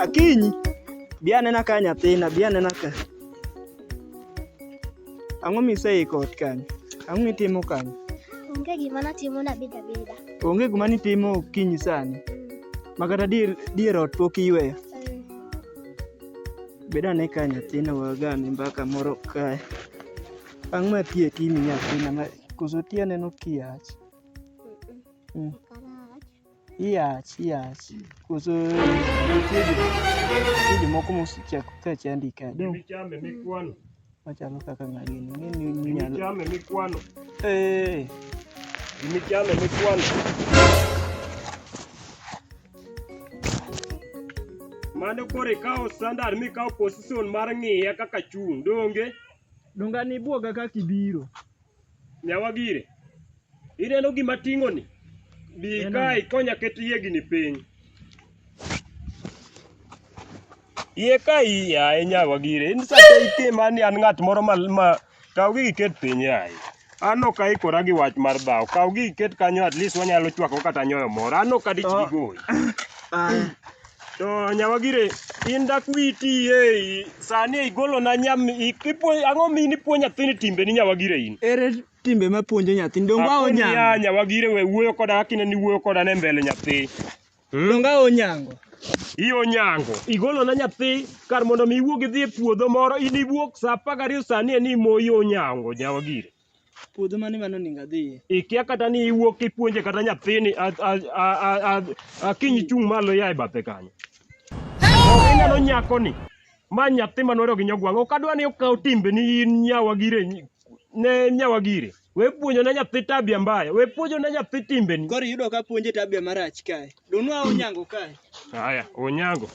Akinyi, bi anena ka nyathina, bi anena ka. Ang'o miseiko ot kanyo? Ang'o mitimo kanyo? Onge gima natimo nabedo abeda. Onge gima nitimo okinyi sani? Ma kata dier, dier ot pok iyweyo? Beda ni ka nyathina wagame mbaka moro kae. Ang' ma tie timi nyathina ma koso tie aneno kiach. Mm. Iach, iach. Koso nitie jomoko mosechako ka chandi ka. Dong. Chame mikwano. Machalo kaka ng'agini. Ng'eni minyalo. Gimichame mikwano. Eh. Gimichame mikwano. Mano koro ikawo standard mikawo position mar ng'iye kaka chung' donge? Donga ni buoga kaka ibiro. Nyawa gire, ineno gima ting'oni? Bi Ineno. ka ikonya ket yiegini piny. Yie ka i- yaye nyawa gire, in sate itima ni an ng'at moro ma, ma kaw gigi ket piny yaye. An ok aikora gi wach mar dhawo. Kaw gigi ket kanyo at least wanyalo chwako kata nyoyo moro. An ok adichgi Oh. goyi. Aya. To nyawagire in dak witi e sani igolo na nyam ipuonj ang'o mi ni puonj nyathini timbe ni nyawagire in. Ere timbe ma puonjo nyathi dongo awo nyango. Akonya nyawagire we wuoyo koda akine ni wuoyo koda ne mbele nyathi. Hmm? Dongo awo nyango. Iyo nyango. Igolo na nyathi kar mondo mi iwuog idhi e puodho moro in iwuok sa 12 sani e ni moyo nyango nyawagire. Puodho mane mano onego adhiye? Ikia kata ni iwuok kipuonje kata nyathini a- a- a- a- a- akinyi chung' malo ya e bathe kanyo. Ok ineno nyakoni. Ma nyathi manwero gi nyogwang'. Ok adwa ni okaw timbeni in nyawa gire nyi- ne nyawa gire. We puonjo ne nyathi tabia mbaya. We puonjo ne nyathi timbeni. Koro iyudo ka puonje tabia marach kae. Donwa onyango kae. Haya, onyango.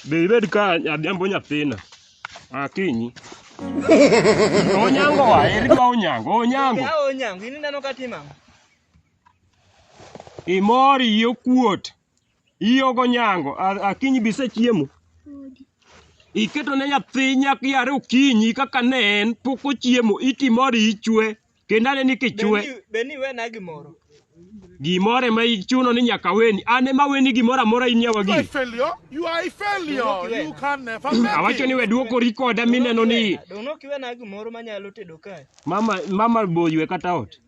Be ibed ka adhiambo nyathina. Akinyi. Onyango wa, eri ka onyango, onyango. Ya onyango, ini neno katima. Imori iyo kuot. Iyo go nyango, akinyi bise chiemo. Iketo ne nyathi nyaki yare okinyi kaka ne en, pok ochiemo, iti mori ichwe. kendo ane ni kichwe Be ni wena gimoro? gimoro ema ichuno ni nyaka weni an ema weni gimoro amora in yawa You are a gini failure. You are a failure. You can never make awacho ni it. we duokori koda mineno ni Dono kiwe na gimoro manyalo tedo kae. mama mama boywe kata ot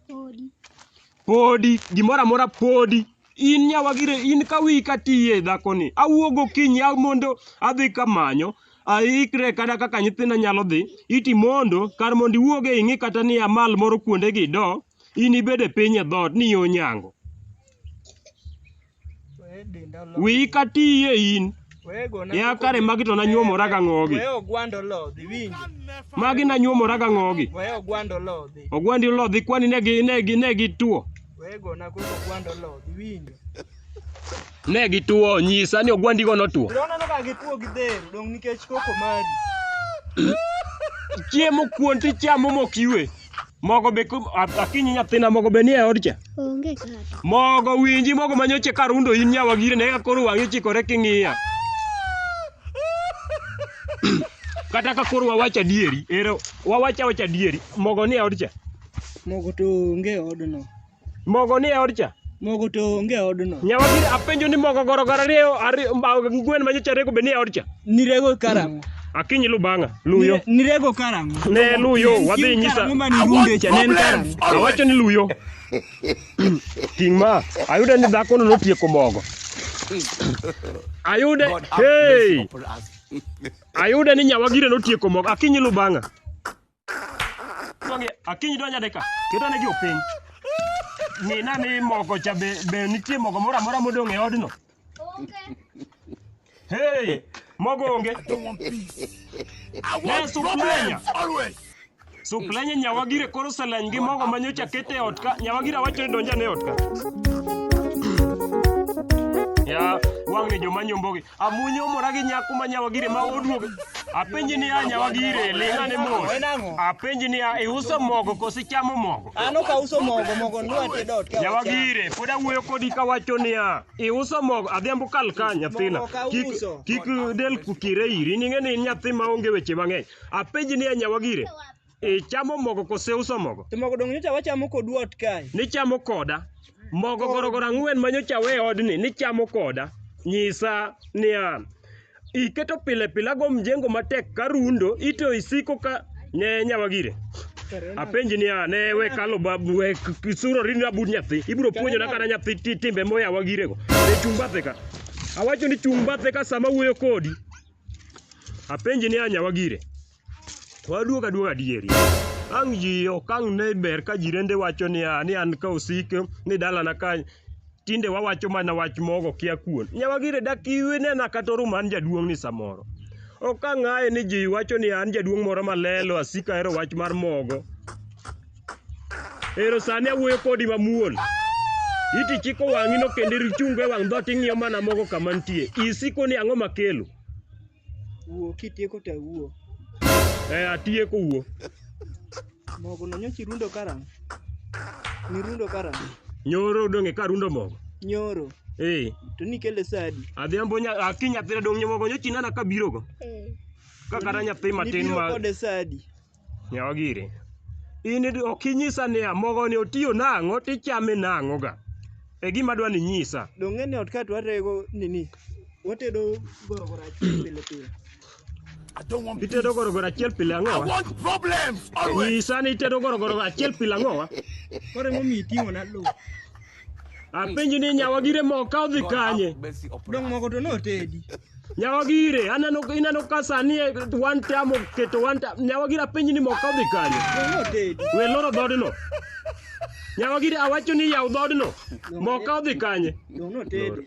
podi gimoro amora podi In nyawagire in ka wiyi ka tiye dhakoni. Awuo gokinyi a mondo adhi kamanyo aikre kata kaka nyithinda nyalo dhi iti mondo kar mondo iwuog e ing'i kata ni amal moro kuonde gi do in ibede piny e dhoot ni yo nyango. Weye denda olodhi. Wiyi ka tiye in. Weye gona Ya koko kare dhi. magi to nanyuomora ga ng'ogi. Weye ogwanda olodhi winji. Magi nanyuomora ga ng'ogi. Weye ogwanda olodhi. Ogwandi olodhi kwani ne gi ne gi ne gi tuo. Ne gituo, nyisa ni ogwandigo notuo. Chiemo kuon to ichamo mok iwe. Mogo be akinyi nyathina mogo be nie od cha. Onge kata. Mogo winji mogo manyoche ka rundo in nyawa gire ne koro wang'i chikore king'iya. Kata ka koro wawacho adieri, ero wawacho awacha adieri, mogo nie od cha. Mogo to onge e odno. Mogo ni e od cha? Mogo to onge e odno. Nyawadhi apenjo ni mogo goro goro ariyo ariyo ma- ngwen ma nyocha rego be ni e od cha? Nirego karang'o? Akinyi lu bang'a, luyo. Nire- Nirego karang'o? Ne luyo, wadhi nyisa. Karang'o ma nirunde cha ne en karang'o? Awacho ni luyo. Ting' ma, ayudo ni dhakono notieko mogo. Ayude, hey! Ayude ni nyawagire notieko mogo. Akinyi lu bang'a. Donge akinyi donjo adeka. Keto ne jo piny. Mina ni mogo cha be be nitie mogo moro amora modong' e odno. Hey, mogo onge. Ne suplenya. Suplenya nyawagire koro seleny gi mogo manyocha kete e ot ka. Nyawagira wacho ni donja ne ot ka. Ya, wang'e joma nyombogi. Amunyo omora gi nyako ma nyawagire ma oduogo. Apenji niya nyawagire ling'a ne mos. Apenji niya iuso mogo koso ichamo mogo? An ok auso mogo, mogo nwa te dot. Nyawagire pod awuoyo kodi kawacho niya iuso mogo adhiambo kal ka nyathina. Kik kik del kukire iri ning'e ni in nyathi ma onge weche mang'eny. Apenji niya nyawagire Ichamo mogo kose uso mogo? To mogo dongo nyocha wachamo kodu ot kae. Nichamo koda. Mogo gorogoro ang'wen ma nyocha we odni nichamo koda. Nyisa niya, iketo pile pile ago mjengo matek ka rundo ito isiko ka ne nyawagire. Apenji niya, ne we kalo babu we kisuro rini abud nyathi. Ibiro puonjo na kana nyathi ti- timbe moya wagire go. Ne chung' bathe ka. Awacho ni chung' bathe ka sama wuoyo kodi. Apenji niya nyawagire. Waduog aduoga adieri. Ang' ji ok ang' ne ber ka jirende wacho niya ni an ka osik ni dalana ka tinde wawacho mana wach mogo kia kuon. Nyawagire dak iwinena kata orum an jaduong' ni samoro. Ok ang' aye ni ji wacho ni an jaduong' moro malelo asika hero wach mar mogo. Ero sani awuoyo kodi mamuol. Iti chiko wang'ino kendo ichungo e wang' dhoot ing'iyo mana mogo kama nitie. Isiko ni ang'o makelo? Wuo kitieko to awuo. Eh, atieko wuo. Mogo no nyocha irundo karang'o? Nirundo karang'o? Nyoro odong' e ka arundo mogo. Nyoro. Eh. To nikele sa adi? Adhiambo nya aki nyathina dong' mogo nyocha inena kabirogo. Ka kata nyathi matin ma Nibiro kode sa adi? Yawa giri. In id- ok inyisa niya mogoni otiyo nang'o tichame nang'o ga. E gima dwa ni nyisa. Donge ni ot ka to warego nini? Watedo gorogoro achiel pile pile. I don't want peace. Itedo gorogoro achiel pile ang'o I wa? want problems always. Nyisa ni itedo gorogoro achiel pile ang'o wa? Koro emomiyo iting'ona lo. Apenji ni nyawa gire moka odhi kanye? Dong moko to notedi. Nyawa gire, aneno ineno ka sani e one time oketo one time. Nyawa gire apenji ni moka odhi kanye? Dong notedi. We loro dhodno. Nyawa gire awacho ni yaw dhodno. Moka odhi kanye? Dong notedi.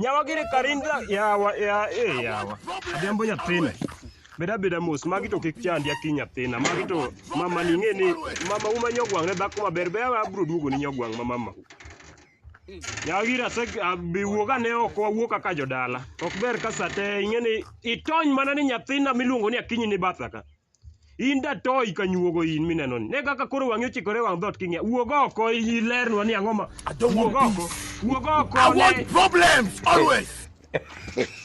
Yawa gini karinda yawa ya eh yawa. Adembo nyathina. Beda beda mos magi to kik chandi aki nyathina. Magi to mama ni ng'e ni mama uma nyogwang' ne dhako maber be yawa abro duogo ni nyogwang' ma mama. Yawa gini ase abi wuog ane oko awuo kaka jodala. Ok ber ka sate ing'e ni itony mana ni nyathina miluongo ni akinyi ni batha ka. In datoyi ka nyuogo in mineno ni. Ne kaka koro wang'i ochikore wang' dhoot king'iya. Wuog oko ilernwa ni ang'o ma. I don't Wuog want oko. Wuog oko. I ne- want problems always.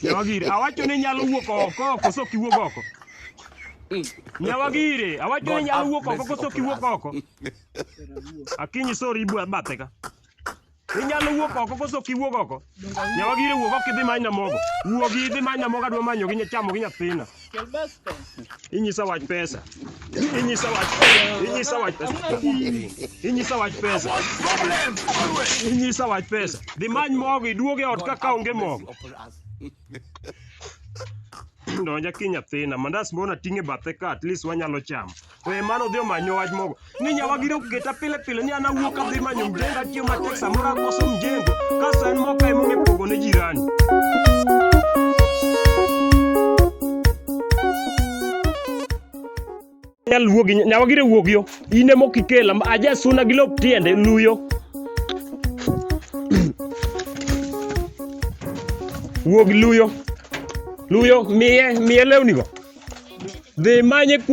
Nyawagire, awacho ni nyalo wuok oko koso kiwuok oko. Nyawagire, awacho ni God nyalo have wuok oko mercy koso upon kiwuok us. oko. Akinyi sorry ibu bathe ka. Inyalo wuok oko koso kiwuok oko. Nyawa gire wuok oko kidhi manya mogo. Wuok idhi manya mogo adwa manyo gi nyachamo gi nyathina. Inyisa wach pesa. Inyisa wach inyisa wach pesa. Inyisa wach pesa. Inyisa wach pesa. Dhi many mogo iduoge ot ka kaonge mogo. Donja ki nyathina. Mandas mbona ting'e bathe ka at least wanyalo chamo. We mano odhi omanyo wach moko ni nyawagire oketa pile pile ni an awuok adhi manyo mjengo atiyo matek samoro akoso mjengo kasto en moka emong'e pogo ne jirani nyal wuogi nyawagire wuog yo in ema ok ikela aja suna gi lop tiende luyo wuog luyo luyo miye miye lewnigo Dhi manye ku